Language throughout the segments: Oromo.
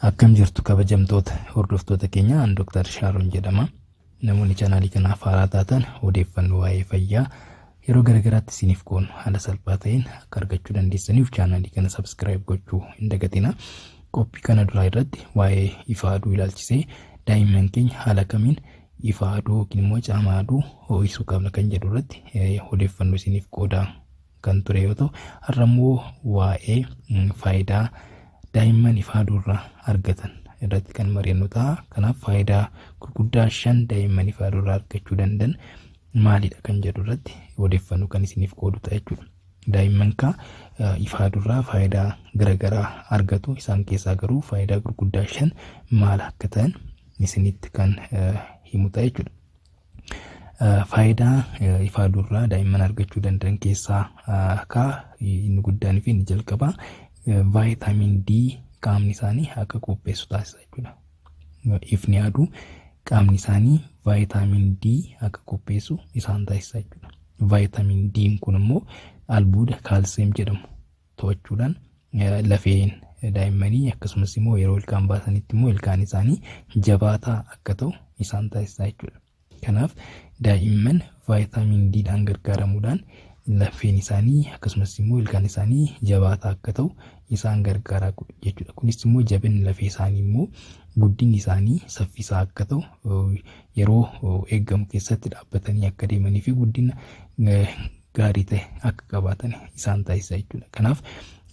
Akkam jirtu kabajamtoota hordoftoota keenya an Dr. Shaaron jedhama. Namoonni chaanaalii kanaaf haaraa taatan odeeffannoo waa'ee fayyaa yeroo garaagaraatti isiniif qoonu haala salphaa ta'een akka argachuu dandeessaniif chaanaalii kana sabskiraayib gochuu hin dagatina. Qophii kana duraa irratti waa'ee ifa aduu ilaalchisee daa'imman keenya haala kamiin ifa aduu yookiin immoo caama aduu ho'isuu qabna kan jedhu irratti odeeffannoo isiniif qoodaa kan ture yoo ta'u har'a immoo waa'ee faayidaa daa'imman ifa aduurraa argatan irratti kan mari'annu ta'a. Kanaaf faayidaa gurguddaa shan daa'imman ifa aduurraa argachuu danda'an maalidha kan jedhu irratti odeeffannoo kan isiniif qoodu ta'a jechuudha. Daa'imman kaa ifa aduurraa faayidaa garaagaraa argatu isaan keessaa garuu faayidaa gurguddaa shan maal akka ta'an isinitti kan himu ta'a jechuudha. Faayidaa ifaa durraa daa'imman argachuu danda'an keessaa akka inni guddaan fi inni jalqabaa vaayitaamiin D qaamni isaanii akka qopheessu taasisa jechuudha. Ifni aduu qaamni isaanii vaayitaamiin D akka qopheessu isaan taasisa jechuudha. Vaayitaamiin D kun immoo albuuda kaalsiyeem jedhamu to'achuudhaan lafeen daa'immanii akkasumas immoo yeroo ilkaan baasanitti immoo ilkaan isaanii jabaataa akka ta'u isaan taasisaa jechuudha. Kanaaf daa'imman vaayitaamin D dhaan gargaaramuudhaan lafeen isaanii akkasumas immoo ilkaan isaanii jabaataa akka ta'u isaan gargaaraa jechuudha. Kunis immoo jabinni lafee isaanii immoo guddinni isaanii saffisaa akka ta'u yeroo eegamu keessatti dhaabbatanii akka deemanii fi guddina gaarii ta'e akka qabaatan isaan taasisa jechuudha. Kanaaf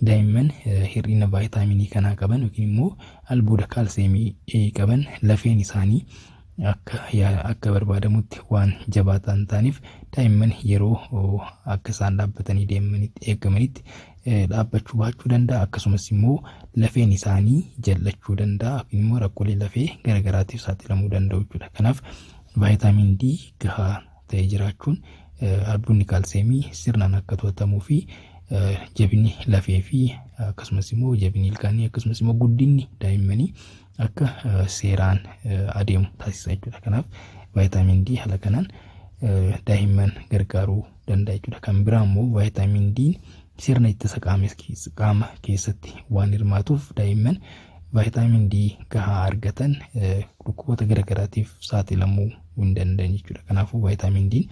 daa'imman hir'ina vaayitaaminii kanaa qaban yookiin immoo albuuda kaalseemii qaban lafeen isaanii akka akka barbaadamutti waan jabaataa hin taaneef daa'imman yeroo akka isaan dhaabbatanii deemanitti eegamanitti dhaabbachuu baachuu danda'a akkasumas immoo lafeen isaanii jal'achuu danda'a yookiin immoo rakkoolee lafee garaagaraatiif saaxilamuu danda'u jechuudha. Kanaaf vaayitaamin D gahaa ta'ee jiraachuun albuudni kaalseemii sirnaan akka to'atamuu fi jabinni lafee fi akkasumas immoo jabinni ilkaanii akkasumas immoo guddinni daa'immanii akka seeraan adeemu taasisa jechuudha. Kanaaf vaayitaamiin D haala kanaan daa'imman gargaaruu danda'a jechuudha. Kan biraa immoo vaayitaamiin D sirna ittisa qaama keessatti waan hirmaatuuf daa'imman vaayitaamiin D gahaa argatan dhukkuboota garaagaraatiif saaxilamuu hin danda'an jechuudha. Kanaafuu vaayitaamiin Diin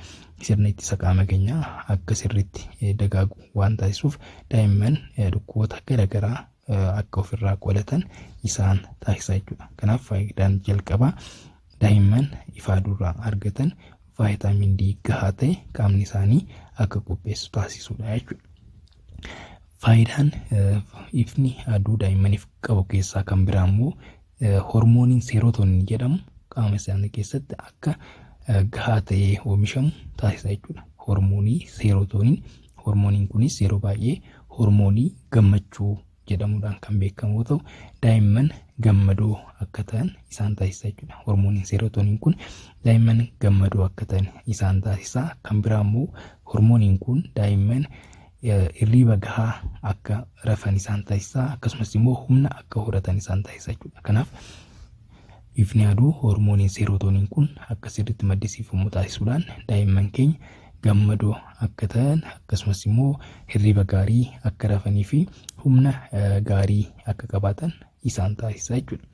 sirna ittisa qaama keenyaa akka sirriitti eh, dagaagu waan taasisuuf daa'imman eh, dhukkuboota garaagaraa eh, akka ofirraa qolatan isaan taasisa jechuudha. Kanaaf faayidaan jalqabaa daa'imman ifaa duraa argatan vaayitaamiin D gahaa ta'e qaamni isaanii akka qopheessu taasisuudha jechuudha. Faayidaan eh, ifni aduu daa'immaniif qabu keessaa kan biraa immoo hormooniin seerootonin jedhamu qaama isaanii keessatti akka gahaa ta'ee oomishamu taasisa jechuudha. Hormoonii seerootonin hormooniin kunis yeroo baay'ee hormoonii gammachuu jedhamuudhaan kan beekamu yoo ta'u daa'imman gammadoo akka ta'an isaan taasisa jechuudha. Hormooniin seerootonin kun daa'imman gammadoo akka ta'an isaan taasisa. Kan biraa immoo hormooniin kun daa'imman irriiba gahaa akka rafan isaan taasisa akkasumas immoo humna akka horatan isaan taasisa jechuudha. Kanaaf ifni aduu hormooniin seerootooniin kun akka sirriitti maddisiifamu taasisuudhaan daa'imman keenya gammadoo akka ta'an akkasumas immoo hirriba gaarii akka rafanii fi humna gaarii akka qabaatan isaan taasisa jechuudha.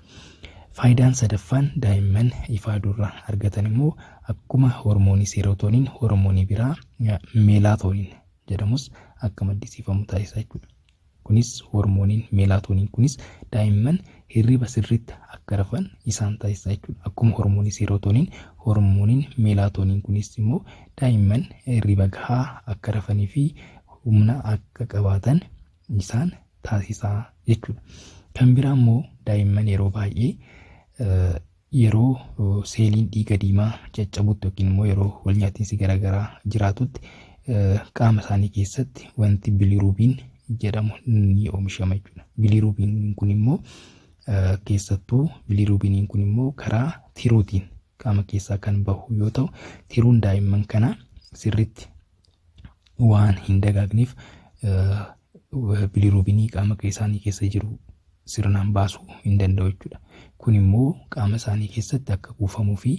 Faayidaan sadaffaan daa'imman ifaa durra argatan immoo akkuma hormoonii seerootooniin hormoonii biraa meelaatooniin jedhamus akka maddisiifamu taasisa jechuudha. Kunis hormooniin meelaatooniin kunis daa'imman hirriba sirriitti akka rafan isaan taasisa jechuudha. Akkuma hormoonii seerootoniin hormooniin meelaatooniin kunis immoo daa'imman hirriba gahaa akka rafanii fi humna akka qabaatan isaan taasisa jechuudha. Kan biraa immoo daa'imman yeroo baay'ee Yeroo seeliin dhiiga diimaa caccabutti yookiin immoo yeroo walnyaatinsi garaagaraa jiraatutti qaama isaanii keessatti wanti biliruubiin jedhamu ni oomishama jechuudha. Biliruubiin kun immoo keessattuu biliruubiiniin kun immoo karaa tiruutiin qaama keessaa kan bahu yoo ta'u tiruun daa'imman kana sirriitti waan hin dagaagneef biliruubinii qaama isaanii keessa jiru sirnaan baasuu hin danda'u jechuudha. Kun immoo qaama isaanii keessatti akka kuufamuu fi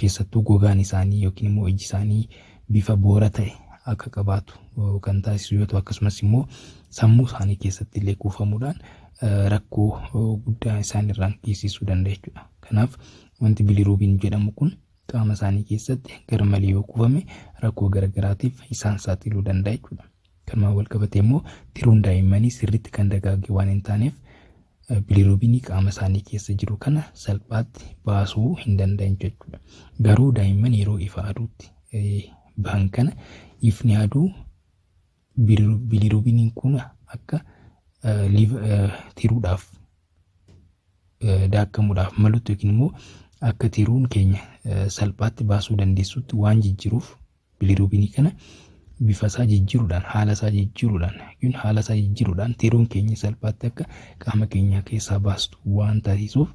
keessattuu gogaan isaanii yookiin immoo iji isaanii bifa boora ta'e akka qabaatu kan taasisu yoo ta'u akkasumas immoo sammuu isaanii keessatti illee kuufamuudhaan rakkoo guddaa isaan irraan geessisuu danda'a jechuudha. Kanaaf wanti biliruubiin jedhamu kun qaama isaanii keessatti garmalee yoo kuufame rakkoo garagaraatiif isaan saaxiluu danda'a jechuudha. Kanumaan wal qabatee immoo tiruun daa'immanii sirriitti kan dagaage waan hin taaneef biliruubinii qaama isaanii keessa jiru kana salphaatti baasuu hin danda'an jechuudha. Garuu daa'imman yeroo ifa aduutti bahan kana ifni aduu Bilirubiniin kun akka tiruudhaaf daakkamuudhaaf malutti yookiin immoo akka tiruun keenya salphaatti baasuu dandeessutti waan jijjiiruuf bilirubinii kana bifa isaa jijjiiruudhaan haala isaa jijjiiruudhaan yookiin haala isaa jijjiiruudhaan tiruun keenya salphaatti akka qaama keenyaa keessaa baastu waan taasisuuf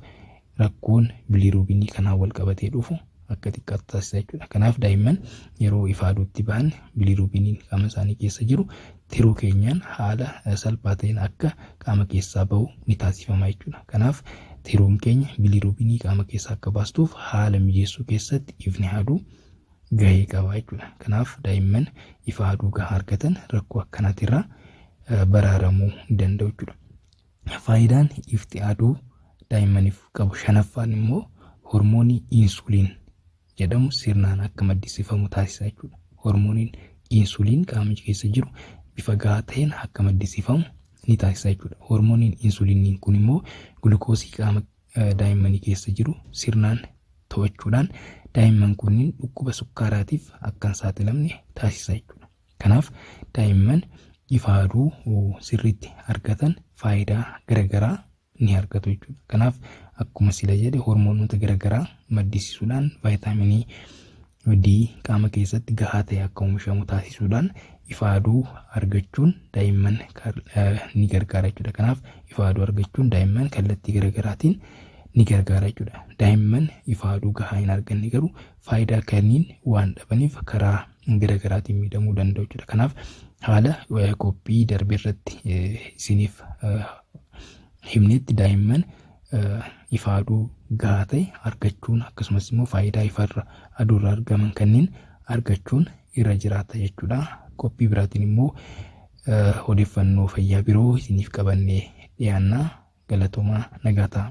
rakkoon biliiruubinii kanaan wal qabatee dhufu akka xiqqaatu taasisa jechuudha. Kanaaf daa'imman yeroo ifaaduutti ba'an biliiruubiniin qaama isaanii keessa jiru tiruu keenyaan haala salphaa ta'een akka qaama keessaa ba'u ni taasifama jechuudha. Kanaaf tiruun keenya biliiruubinii qaama keessaa akka baastuuf haala mijeessuu keessatti ifni haaduu gahee qaba jechuudha. Kanaaf daa'imman ifa haaduu gahaa argatan rakkoo akkanaatirraa baraaramuu danda'u jechuudha. Faayidaan ifti aduu daa'immaniif qabu shanaffaan immoo hormoonii insuliin jedhamu sirnaan akka maddisiifamu taasisa jechuudha. Hormooniin insuliin qaama keessa jiru bifa gahaa ta'een akka maddisiifamu ni taasisa jechuudha. Hormooniin insuliinii kun immoo gulukoosii qaama daa'immanii keessa jiru sirnaan to'achuudhaan daa'imman kunniin dhukkuba sukkaaraatiif akka hin saaxilamne taasisa jechuudha. Kanaaf daa'imman ifa aduu sirriitti argatan faayidaa garagaraa ni argatu jechuudha. Kanaaf akkuma sila jedhe hormoonota garagaraa maddisiisuudhaan vaayitaaminii D qaama keessatti gahaa ta'e akka oomishamu taasisuudhaan ifa aduu argachuun daa'imman ni gargaara jechuudha. Kanaaf ifa aduu argachuun daa'imman kallattii garagaraatiin ni gargaara jechuudha. Daa'imman ifa aduu gahaa hin arganne garuu faayidaa kanniin waan dhabaniif karaa gara garaatiin miidhamuu danda'u jechuudha. Kanaaf haala qophii darbe irratti isiniif himnetti daa'imman ifa aduu gahaa ta'e argachuun akkasumas immoo faayidaa ifarra aduurra argaman kanneen argachuun irra jiraata jechuudha. Qophii biraatiin immoo odeeffannoo fayyaa biroo isiniif qabannee dhiyaanna galatoomaa nagaa ta'a.